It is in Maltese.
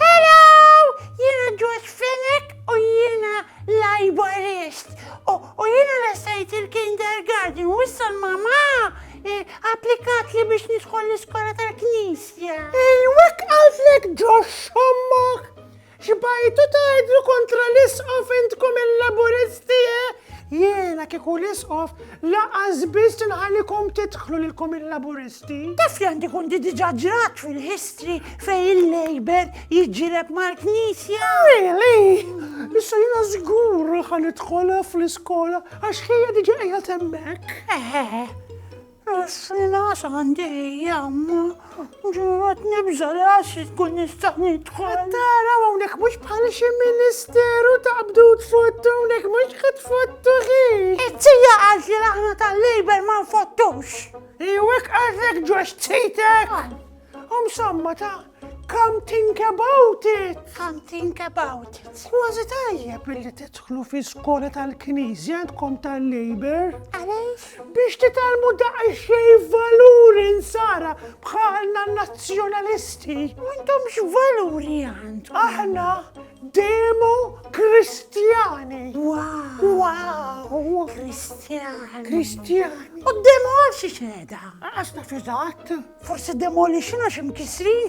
Hello! Jiena George Fenech u jiena librist. U jiena resajt il-kindergarten u issa l-mama eh, applikat li biex nidħol l-iskola tal-knisja. Ejwek għalflek George xommok! Xbajtu tajdlu kontra l-isqof intkom il-laburisti, eh? Jiena kieku l-Isqof lanqas biss inħallikom tidħlu lilkom il-Laburisti. Taf li għandi kont diġà ġrat fil-history fejn il-Labour jiġġieled mal-Knisja? Really? Issa jiena żgur ħa nidħol fl-iskola għax ħija diġà qiegħed hemmhekk. Eħe. Is-sena s'għandi hija imma ġuwat nibża' li għad xi tkun nista' nidħol. Qed taraw hawnhekk mhux bħal xi ministeru ta' qbdut tfottu hawnhekk mhux qed tfottu ħin. It-tija qalt li aħna tal-Labour ma nfottux. Iwa hekk qaltlek George tzitek? Om samma ta' Come think about it. Come think about it. Kważi tajjeb illi tidħlu fi skola tal-Knisja għandkom tal-Labor. Għaliex? Biex titalmu daqsxejn valuri nsara bħalna nazzjonalisti. M'għandhomx valuri għand. Aħna demo kristjani. Wow. Wow. Kristjani. Kristjani. U demo għal xi xeda. Għax naf eżatt. Forsi demolition għax imkisrin.